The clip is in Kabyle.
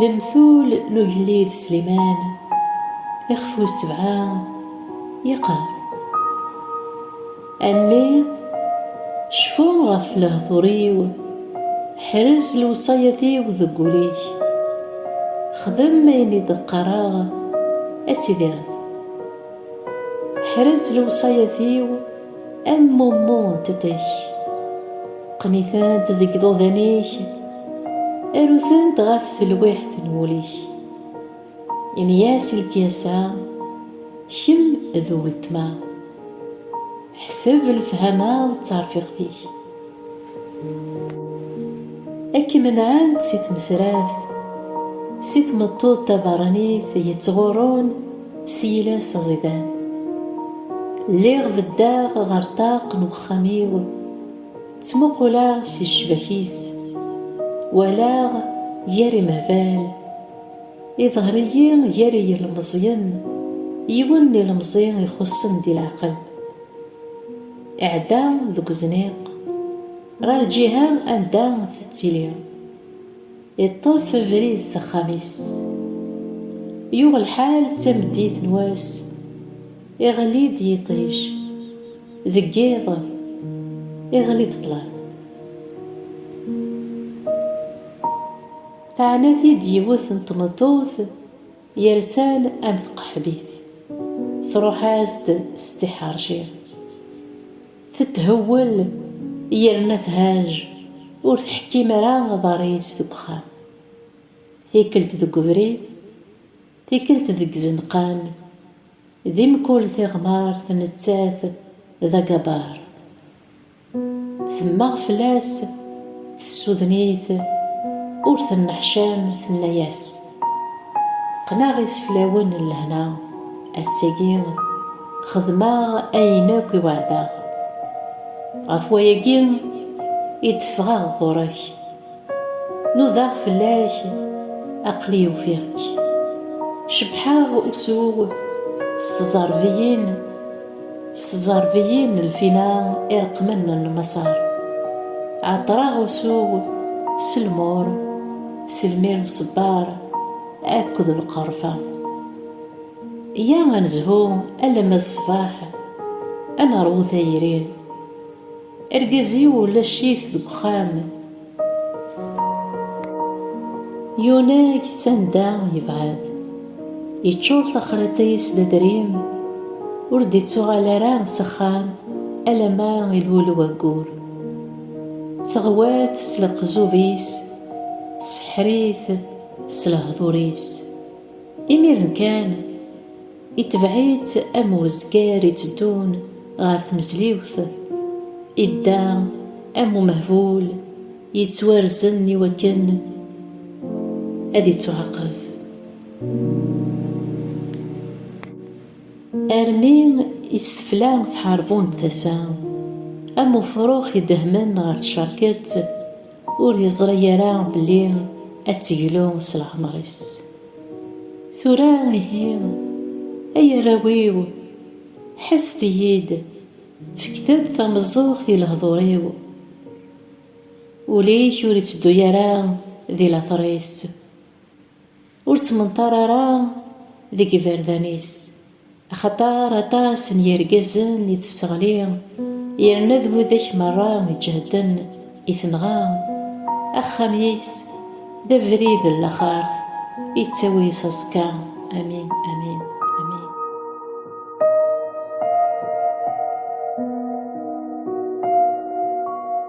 Lemtul n ugellid Sliman ixef wis sebɛa yeqqar A mmi cfu ɣef lehdur-iw ḥrez lewṣayat-iw deg wul-ik xdem ayen i d-qqareɣ ad tidireḍ ḥrez lewṣayat-iw Am mummu n tetek, qqen-itent deg iḍudan-ik, aru-tent ɣef telwiḥt n wul-ik. Ini-as i lekyasa, kemm d weltma, ḥseb lefhama d terfiqt-ik. Ad k-menɛent si tmesraft, si tmeṭṭut tabeṛṛanit yettɣurrun s yiles aẓidan. Lliɣ beddeɣ ɣer ṭṭaq n wexxam-iw, ttmuquleɣ si ccbak-is, walaɣ gar imehbal, iḍher-iyi gar yilmeẓyen, yiwen n ilemẓi ixuṣṣen di leɛqel. Iɛedda deg uzniq ɣer lǧiha anda tettili. Iṭṭef abrid s axxam-is. Yuɣ lḥal d tameddit n wass, iɣli-d yiṭij. Deg yiḍ, iɣli-d ṭṭlam. Teɛna-t-id yiwet n tmeṭṭut. Yersan am tqeḥbit truḥ-as-d s tiḥerci, tetthewwel yerna thaj ur tḥekkim ara aḍar-is deg uxxam, tikkelt deg ubrid, tikkelt deg izenqan, di mkul tiɣmert nettat d agabar. Temmeɣ fell-as, tessuden-it, ur tenneḥcam, tenna-yas, Qqneɣ iseflawen n lehna, ass-agi xedmeɣ ayen akk i weɛdeɣ. Ɣef wayagi i d-ffɣeɣ ɣur-k. Nudaɣ fell-ak, aql-i ufiɣ-k. Cebḥeɣ usu-w s tẓerbiyin, s tẓerbiyin n lfina ireqqmen n lmaṣer. Ɛeṭṭreɣ usu-w s lmur, s lmir uṣebbar akked lqerfa. Yya ad nezhu alamma d ṣṣbeḥ, ad neṛwu tayri. Argaz-iw ulac-it deg uxxam. Yunag s anda yebɛed. Yeččur taxriṭ-is d adrim, ur d-ittuɣal ara s axxam alamma ilul waggur. Teɣwa-t s leqzub-is, tesseḥr-it s lehdur-is. Imiren kan. Itebɛ-itt am uzger itteddun ɣer tmezliwt, idda am umehbul yettwarzen iwakken ad ittuɛaqeb, armi i tt-tefla tḥerbunt tasa, am ufrux idehmen ɣer tcerket. Ur yeẓri ara belli ad teglu s leɛmer-is. Tura ihi, ay arraw-iw, ḥesset-iyi-d, fket-d tameẓẓuɣt i lehdur-iw. Ul-ik ur itteddu ara di later-is. Ur ttmenṭar ara deg yiberdan-is, axaṭer aṭas n yirgazen i tesseɣli, yerna d widak merra iǧehden i tenɣa. Axxam-is d abrid n laxart, yettawi s aẓekka. Amin, amin.